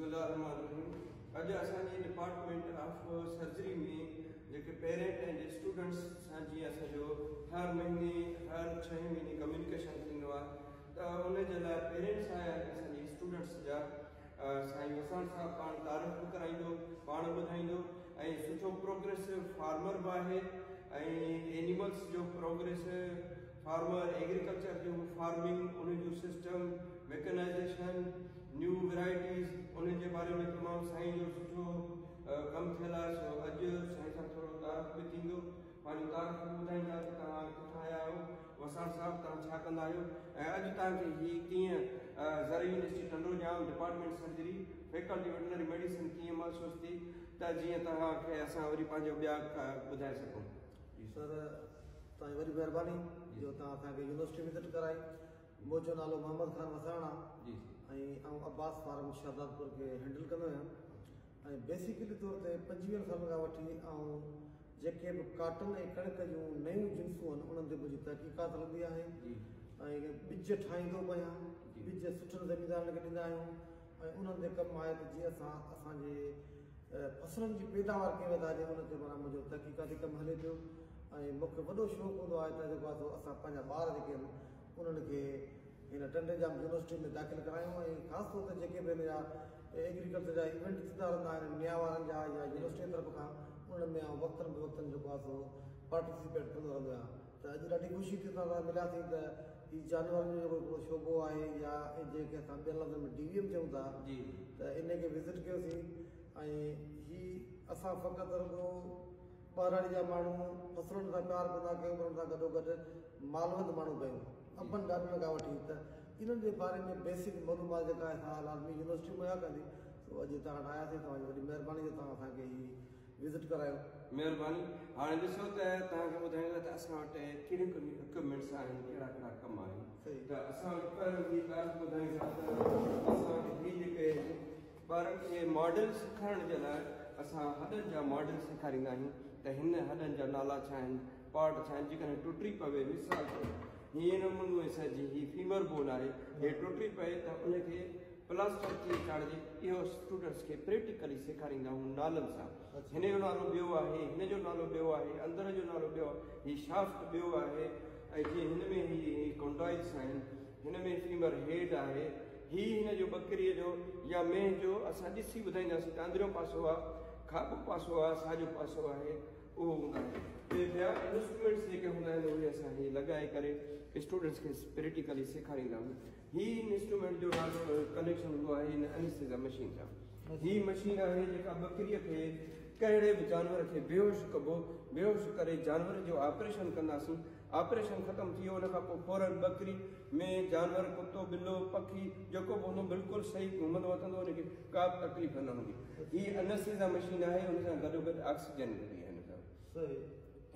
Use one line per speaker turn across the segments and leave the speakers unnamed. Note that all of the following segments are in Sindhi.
بسم الله الرحمٰن الرحيم اڄ اسان جي ڊپارٽمينٽ آف سرجري ۾ جيڪي پيرنٽ ۽ اسٽوڊنٽس سان جي اسان جو هر مهيني هر ڇهين مهيني ڪميونيڪيشن ٿيندو آهي ته ان جي لاء پيرنٽس آيا آهن اسان جي اسٽوڊنٽس جا سائين وسان صاحب پاڻ تعارف به ڪرائيندو پاڻ ٻڌائيندو ۽ سٺو پروگريس فارمر به آهي ۽ اينيملس جو پروگريس فارمر ايگريڪلچر جو فارمنگ ان جو سسٽم ميڪنائيزيشن نيو ويرائٽيز ان جي باري ۾ تمام سائين جو سٺو ڪم ٿيل آهي سو اڄ سائين سان ٿورو تعارف به ٿيندو پنهنجو تعارف به ٻڌائيندا ته توهان ڪٿان آيا آهيو وساڻ صاحب توهان ڇا ڪندا آهيو ۽ اڄ توهان کي هي ڪيئن زرعي university Tando Jam department surgery faculty veterinary medicine ڪيئن محسوس ٿي ته جيئن توهان کي اسان وري پنهنجو ٻيا ٻڌائي سگهون سر
توهان جي وڏي مهرباني جو توهان اسان کي يونيورسٽي وزٽ ڪرائي منهنجو نالو محمد خان وساڻ آ ۽
آئون عباس
فارم شهدادپور کي هينڊل ڪندو آهيان ۽ بيسيڪلي طور تي پنجويهن سالن کان وٺي آئون جيڪي به ڪاٽن ۽ ڪڻڪ جون نيون جنسون آهن انهن تي منهنجي تحقيقات هلندي آهي ۽ ٻج ٺاهيندو به آهيان ٻج سٺن زميندارن کي ڏيندا آهيون ۽ انهن تي ڪم آهي ته جيئن اسان اسان جي فصلن جي پيداوار ڪيئن وڌائجي ان تي مانا منهنجو تحقيقاتي ڪم هلي پيو ۽ مونکي وڏو شوق هوندو آهي ته جيڪو آهي سو اسان پنهنجا ٻار جيڪي آهن انهن کي هن ٽنڊي ڄام يونيورسٽي ۾ داخل ڪرايون ۽ خاص طور تي جيڪي به هن جا ايگريڪلچر جا ايونٽ ٿيندا رهندا آهن نيا وارن جا يا يونيورسٽي طرف کان انهن ۾ آئون وقتن بوقتن جيڪو آهي سو پارٽيسپيٽ ڪندو رهندو آهيان ته اڄ ڏاڍي خوشي ٿي اسان سان مليا ٿي ته هي جانورن جو هڪڙو شعبو آهي يا جنهن کي اسان ٻين لفظن ۾ ڊيويم چئون ٿا ته ان کي وزٽ ڪيو سين ۽ هي اسان فقط رڳو ٻهراڙي جا ماڻهو فصلن سان پيار ڪندا ڪيون پر ان سان گڏو گڏ مالوند ماڻهو ڪيون ابن ڏاڏن کان وٺي ته انهن جي باري ۾ بيسڪ معلومات جيڪا اسان لازمي يونيورسٽي مهيا ڪندي سو اڄ هتان وٽ آياسين توهان جي وڏي مهرباني جو توهان اسان کي هي وزٽ ڪرايو. مهرباني.
هاڻي ڏسو ته توهان کي ٻڌائڻ لاء ته اسان وٽ ڪهڙيون ڪهڙيون اڪوپمينٽس آهن ڪهڙا ڪهڙا ڪم آهن ته اسان وٽ پهريون هي ڳالهه ٻڌائين ٿا ته اسان وٽ هي جيڪي ٻارن کي ماڊل سيکارڻ جي لاء اسان هڏن جا ماڊل سيکاريندا آهيون ته هن هڏن جا نالا ڇا آهن پارٽ ڇا آهن جيڪڏهن ٽٽي پوي مثال طور هي نمونو سر جي هي فيمر بون آهي هي ٽٽي پئي ته ان کي پلاسٽر ڪلي چاڙهجي، اهو اسٽوڊنٽس کي پريٽيڪلي سيکاريندا هون نالن سان، هن جو نالو ٻيو آهي، هن جو نالو ٻيو آهي، اندر جو نالو ٻيو آهي، هي شافٽ ٻيو آهي ۽ جيئن هن ۾ هي هي ڪونڊائلس آهن، هن ۾ فيمر هيڊ آهي، هي هن جو ٻڪريء جو يا مينهن جو اسان ڏسي ٻڌائينداسين ته اندريون پاسو آهي، کاٻو پاسو آهي، ساڄو پاسو آهي، اهو هوندا آهن. ٻي ٻيا انسٽرومينٽس جيڪي هوندا آهن اهي اسان هي لڳائي ڪري اسٽوڊنٽس کي پريٽيڪلي سيکاريندا هون. هي انسٽرومينٽ جو ڪنيڪشن هوندو آهي هن انسٽيزا مشين سان هي مشين آهي جيڪا ٻڪريء کي ڪهڙي به جانور کي بيهوش ڪبو بيهوش ڪري جانور جو آپريشن ڪنداسين آپريشن ختم ٿي ويو ان کان پوء فورن ٻڪري ۾ جانور ڪتو ٻلو پکي جيڪو به هوندو بلڪل صحيح گهمندو وتندو ان کي ڪا به تڪليف نه هوندي هي انسٽيزا مشين آهي ان سان گڏو گڏ آڪسيجن هوندي آهي هن سان صحيح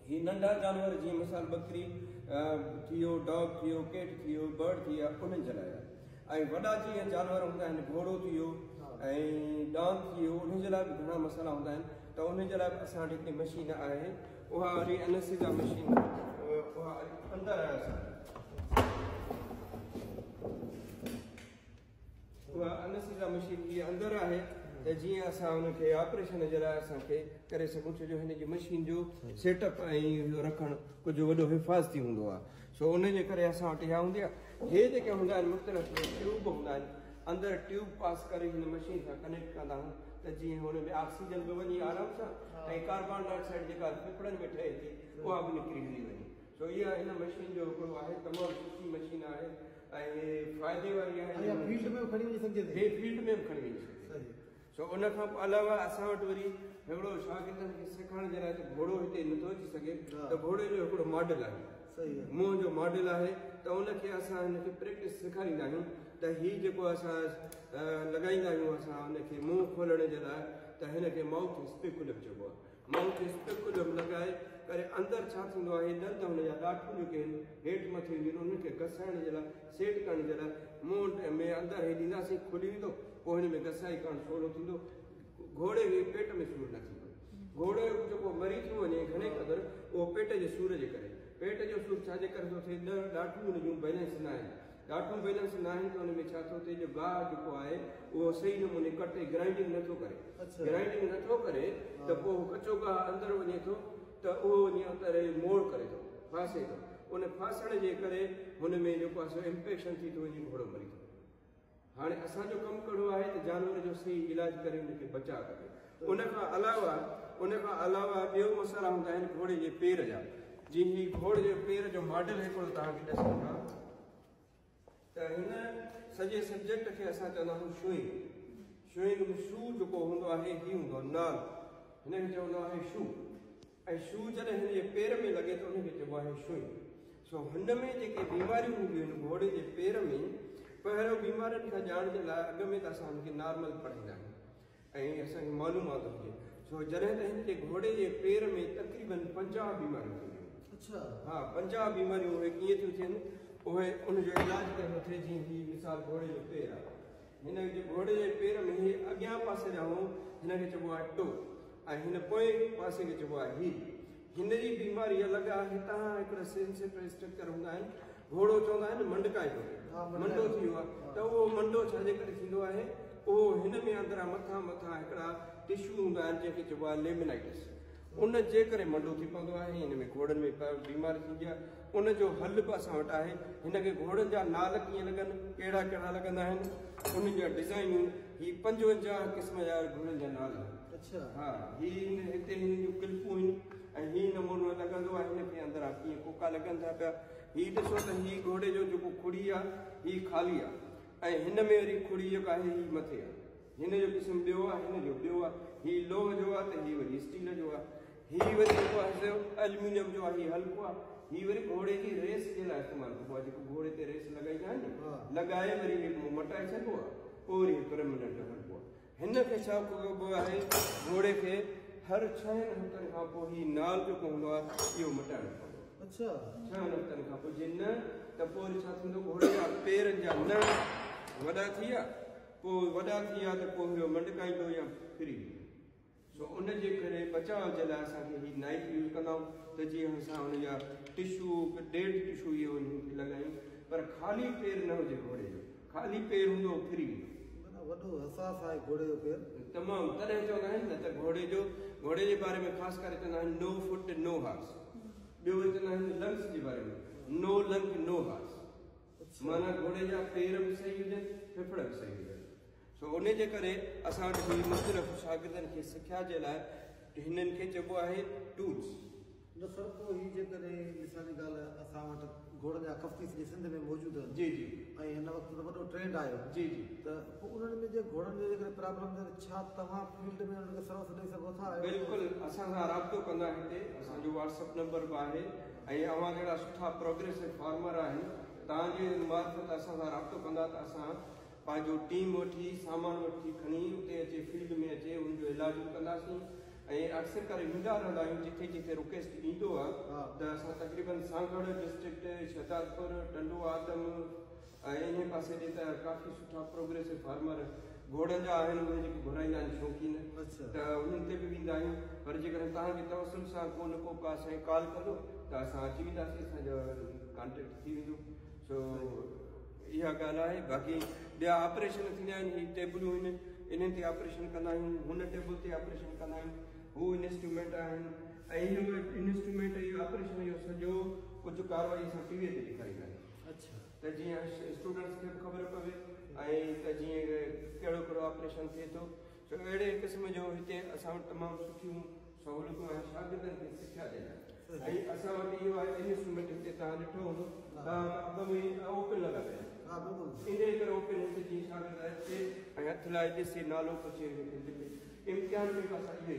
هي ننڍا جانور جيئن مثال ٻڪري ٿيو، ڊاگ ٿيو، ڪيٽ ٿيو، برڊ ٿي يا انهن جي لاء آهي ۽ وڏا جيئن جانور هوندا آهن گهوڙو ٿيو ۽ ڏاند ٿيو انهن جي لاء به گهڻا مسئلا هوندا آهن ته انهن جي لاء به اسان وٽ هڪڙي مشين آهي اها وري انسيزا مشين اها اندر آهي اسان اها انستيزا مشين جي اندر آهي ته جيئن اسان ان کي آپريشن جي لاء اسان کي ڪري سگهون ڇو جو هن جي مشين جو سيٽ اپ ۽ رکڻ ڪجهه وڏو حفاظتي هوندو آهي سو ان جي ڪري اسان وٽ اها هوندي آهي هي جيڪي هوندا آهن مختلف ٽيوب هوندا آهن اندر ٽيوب پاس ڪري هن مشين سان ڪنيڪٽ ڪندا آهيون ته جيئن هن ۾ آڪسيجن به وڃي آرام سان ۽ ڪاربان ڊاء آڪسائيڊ جيڪا ڦڦڙن ۾ ٺهي ٿي اها به نڪري هلي وڃي سو اها هن مشين جو هڪڙو آهي تمام سٺي مشين آهي ۽ فائدي واري آهي اها فيلڊ ۾ به کڻي وڃي
سگهجي ٿي فيلڊ ۾ به کڻي وڃي
سگهجي صحيح سو ان کان علاوه اسان وٽ وري هڪڙو شاگردن کي سکڻ جي لاء ته گهوڙو هتي نه ٿو اچي سگهي ته گهوڙي جو هڪڙو ماڊل آهي صحيح منهن جو ماڊل آهي ته ان کي اسان هن کي پريڪٽس سيکاريندا آهيون ته هي جيڪو اسان لڳائيندا آهيون اسان ان کي منهن کولڻ جي لاء ته هن کي مائوٿ اسپيڪولم چئبو آهي مئو کيس پڪ ڏم لڳائي ڪري اندر ڇا ٿيندو آهي ڏند هن جا ڏاٺون جيڪي هن هيٺ مٿي هونديون آهن انهن کي گسائڻ جي لاء سيٽ ڪرڻ جي لاء مئو ۾ اندر هي ڏينداسين کلي ويندو پوء هن ۾ گسائي ڪرڻ سولو ٿيندو گهوڙي کي پيٽ ۾ سور نه ٿيندو گهوڙي جيڪو مري ٿيو وڃي گهڻي قدر اهو پيٽ جي سور جي ڪري پيٽ جو سور ڇا جي ڪري ٿو ٿئي ڏاٺون هن جون بئلنس نه آهن ڊاٽون بيلنس ناهن ته ان ۾ ڇا ٿو ٿئي جو گاهه جيڪو آهي اهو صحيح نموني ڪٽي گرائنڊنگ نه ٿو ڪري گرائنڊنگ نه ٿو ڪري ته پوء ڪچو گاهه اندر وڃي ٿو ته اهو وڃي اندر موڙ ڪري ٿو ڦاسي ٿو ان ڦاسڻ جي ڪري هن ۾ جيڪو آهي سو انفيڪشن ٿي ٿو وڃي گهوڙو مري ٿو هاڻي اسان جو ڪم ڪهڙو آهي ته جانور جو صحيح علاج ڪري ان کي بچاء ڪجي ان کان علاوه ان کان علاوه ٻيو مسئلا هوندا آهن گهوڙي جي پير جا جي هي گهوڙي جي پير جو ماڊل هڪڙو توهان کي ڏسون ٿا ته هن سڄي سبجيڪٽ کي اسان چوندا آهيون شوئنگ شوئنگ ۾ شو جيڪو هوندو آهي هي هوندو آهي نال هن کي چوندو آهي شو ۽ شو جڏهن هن جي پير ۾ لڳي ته ان کي چئبو آهي شوئنگ سو هن ۾ جيڪي بيماريون هونديون آهن گهوڙي جي پير ۾ پهريون بيمارين کان ڄاڻ جي لاء اڳ ۾ ته اسان هن کي نارمل پڙهائيندا آهيون ۽ اسان کي معلومات هجي سو جڏهن ته هن جي گهوڙي جي پير ۾ تقريباً پنجاهه بيماريون ٿينديون هيون ها پنجاهه بيماريون اهي ڪيئن ٿيون ٿين اهي ان جو علاج ڪرڻو ٿي جيئن هي مثال گهوڙي جو پير آهي هن جي گهوڙي جي پير ۾ هي اڳيان پاسي جا هو هن کي چئبو آهي ٽو ۽ هن پوئين پاسي کي چئبو آهي هي هن جي بيماري الڳ آهي هتان هڪڙا سينسيٽري اسٽرڪچر هوندا آهن گهوڙو چوندا آهن منڊڪائي جو منڊو ٿي ويو آهي ته اهو منڊو ڇا جي ڪري ٿيندو آهي اهو هن ۾ اندران مٿان مٿان هڪڙا ٽشو هوندا آهن جنهن کي چئبو آهي ليمنائيٽس ان جي ڪري منڊو ٿي پوندو آهي هن ۾ گهوڙن ۾ بيماري ٿيندي آهي ان جو حل به اسان وٽ آهي هن کي گهوڙن جا نال ڪيئن لڳن ڪهڙا ڪهڙا لڳندا آهن ان جا ڊزائنون هي پنجونجاهه قسم جا گهوڙن جا نال اچھا ها هي هتي هن جون ڪلپون آهن ۽ هي نمونو لڳندو آهي هن کي اندران ڪيئن ڪوڪا لڳن ٿا پيا هي ڏسو ته هي گهوڙي جو جيڪو کڙي آ، هي خالي آ ۽ هن ۾ وري کڙي جيڪا آهي هي مٿي آ. هن جو قسم ٻيو آ، هن جو ٻيو آ. هي لوهه جو آ ته هي وري اسٽيل جو آ. هي وري جيڪو آهي سو الميونيم جو آ، هي هلڪو آ. هي وري گهوڙي جي ريس جي لاء استعمال ڪبو آ، جيڪو گهوڙي تي ريس لڳائيندا آهن ني، لڳائي وري هيڪ مون مٽائي ڇڏبو آ، پوء وري هي پرميننٽ هلبو آ. هن کي ڇا ڪبو آهي گهوڙي کي هر ڇهن هفتن کان پوء هي نال جو پوندو آهي اهو مٽائڻو پوندو اچھا ڇهن هفتن کان پوء جي نه ته پوء ڇا ٿيندو گهوڙي جا پيرن جا نه وڏا ٿي ويا پوء وڏا ٿي ويا ته پوء هيو منڊڪائيندو يا ڦري ويندو سو ان جي ڪري بچاء جي لاء اسان کي هي نائف يوز ڪندا آهيون ته جيئن اسان ان جا ٽشو ڊيڊ ٽشو اهو انهن کي لڳايون پر خالي پير نه هجي گهوڙي جو خالي پير هوندو ڦري ويندو. معنيٰ وڏو حساس آهي گهوڙي جو پير. تمام تڏهن چوندا آهن نه ته گهوڙي جو گهوڙي جي باري ۾ خاص ڪري چوندا آهن نو فٽ نو هارس ٻيو وري چوندا آهن لنگس جي باري ۾ نو لنگ نو هارس معنيٰ گهوڙي جا پير به صحيح هجن، ڦڦڙ به صحيح هجن. سو انهي جي ڪري اسان وٽ هي مختلف شاگردن کي سکيا جي لاء هنن کي چئبو آهي Tools. نه سر پوء هي جيڪڏهن مثال جي ڳالهه اسان وٽ گهوڙن جا ڪفتي سڄي سنڌ ۾ موجود آهن جي جي ۽ هن وقت ته وڏو ٽرينڊ آيو جي جي ته پوء انهن ۾ جي گهوڙن جو جيڪڏهن پرابلم ٿئي ته ڇا توهان فيلڊ ۾ انهن کي سروس ڏئي سگهو ٿا؟ بلڪل اسان سان رابطو ڪندا هتي اسان جو واٽس اپ نمبر به آهي. ۽ اوهان جهڙا سٺا پروگريسو فارمر آهن تهان جي معرفت اسان سان رابطو ڪندا ته اسان پنهنجو ٽيم وٺي سامان وٺي کڻي اتي اچي فيلڊ ۾ اچي ان جو علاج به ڪنداسين ۽ اڪثر ڪري ويندا رهندا آهيون جتي جتي رڪويسٽ ايندو آهي ته اسان تقريبن سانگهڙ ڊسٽرڪٽ شهدادپور ٽنڊو آدم ۽ انهيء پاسي ڏي ته ڪافي سٺا پروگريسو فارمر گهوڙن جا آهن، اهي جيڪي گهورائيندا آهن شوقين ته انهن تي به ويندا آهيون، پر جيڪڏهن توهان جي توسل سان ڪو نه ڪو ڪا سائين ڪال ڪندو ته اسان اچي وينداسين، اسان جو ڪانٽيڪٽ ٿي ويندو، سو اها ڳالهه آهي، باقي ٻيا آپريشن ٿيندا آهن، هي ٽيبلون آهن، انهن تي آپريشن ڪندا آهيون، هن ٽيبل تي آپريشن ڪندا آهيون، هو انسٽرومينٽ آهن، ۽ اهو انسٽرومينٽ ۽ آپريشن جو سڄو ڪجهه ڪارروائي اسان ٽي ويء تي ڏيکاريندا آهيون. ته جيئن اسٽوڊنٽس کي به خبر پوي ۽ ته جيئن ڪهڙو ڪهڙو آپريشن ٿئي ٿو سو اهڙي قسم جو هتي اسان وٽ تمام سٺيون سهولتون آهن شاگردن کي سکيا ڏيڻ لاء ۽ اسان وٽ اهو آهي انوسٽرومينٽ هتي توهان ڏٺو هوندو توهان ٻه مهينا اوپن لڳا پيا ان جي ڪري اوپن هتي جيئن شاگرد اچي ۽ هٿ لائي ڏسي نالو پڇي امتحان ۾ به اسان اهو ئي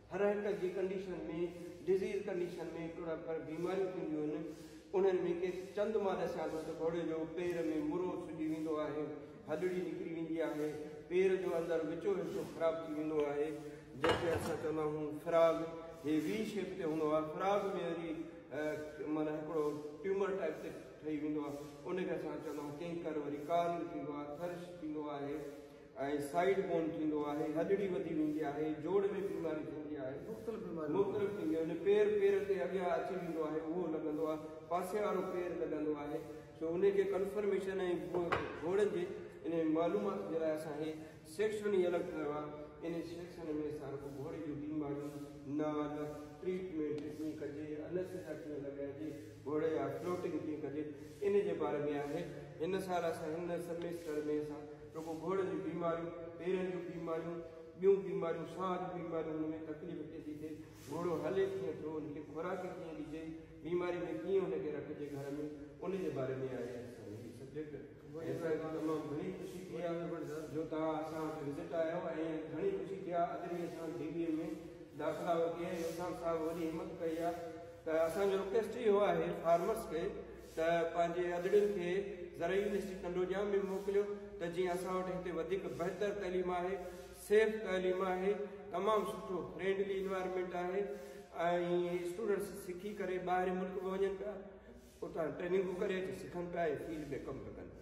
هر هڪ جي ڪنڊيشن ۾ ڊزيز ڪنڊيشن ۾ ٽوڙا پر بيماريون ٿينديون هن انهن ۾ ڪي چند مان ڏسيان ٿو ته گهوڙي جو پير ۾ مرو سجي ويندو آهي هڏڙي نڪري ويندي آهي پير جو اندر وچو حصو خراب ٿي ويندو آهي جنهن کي اسان چوندا آهيون فراز هي وي شيپ تي هوندو آهي فراز ۾ وري مانا هڪڙو ٽيومر ٽائپ تي ٺهي ويندو آهي ان کي اسان چوندا آهيون ڪينڪر وري ڪارل ٿيندو آهي ٿرش ٿيندو آهي ۽ سائيڊ بون ٿيندو آهي، هڏڙي وڌي ويندي آهي، جوڙ ۾ بيماري ٿيندي آهي، مختلف بيماريون مختلف ٿينديون آهن، پير پير تي اڳيان اچي ويندو آهي اهو لڳندو آهي، پاسي وارو پير لڳندو آهي، سو انهي جي ڪنفرميشن ۽ گهوڙن جي انهي معلومات جي لاء اسان هي سيڪشن ئي الڳ ٺاهيو آهي، انهي سيڪشن ۾ اسان رڳو گهوڙي جون بيماريون، نال، ٽريٽمينٽ ڪيئن ڪجي، انستيزيا ڪيئن لڳائجي، گهوڙي جا فلوٽنگ ڪيئن ڪجي، انهي جي باري ۾ آهي، هن سال اسان هن سيمسٽر ۾ اسان. رڳو گهوڙن جون بيماريون، پيرن جون بيماريون، ٻيون بيماريون، ساهه جون بيماريون ان ۾ تڪليف ڪيئن ٿي ٿئي، گهوڙو هلي ڪيئن ٿو، ان کي خوراڪ ڪيئن ڏجي، بيماري ۾ ڪيئن ان کي رکجي گهر ۾ ان جي باري ۾ آهي اسان جو هي سبجيڪٽ ۽ اسان کي تمام گهڻي خوشي ٿي آهي جو توهان اسان وٽ وزٽ آيا آهيو ۽ گهڻي خوشي ٿي آهي اڄ به اسان ڊي بي ايم ۾ داخلا ورتي آهي عرفان صاحب وڏي همت ڪئي آهي ته اسان جو رڪويسٽ اهو آهي فارمرس کي ته پنهنجي ادڙين کي زرعي يونيورسٽي ڪنڊوڄام ۾ موڪليو ته جيئن اسان وٽ هتي وڌيڪ بهتر تعليم آهي، سيف تعليم آهي، تمام سٺو فرينڊلي انوائرمينٽ آهي ۽ اسٽوڊنٽس سکي ڪري ٻاهرين ملڪ به وڃن پيا، اتان ٽريننگون ڪري اچي سکن پيا ۽ فيلڊ ۾ ڪم به ڪن پيا.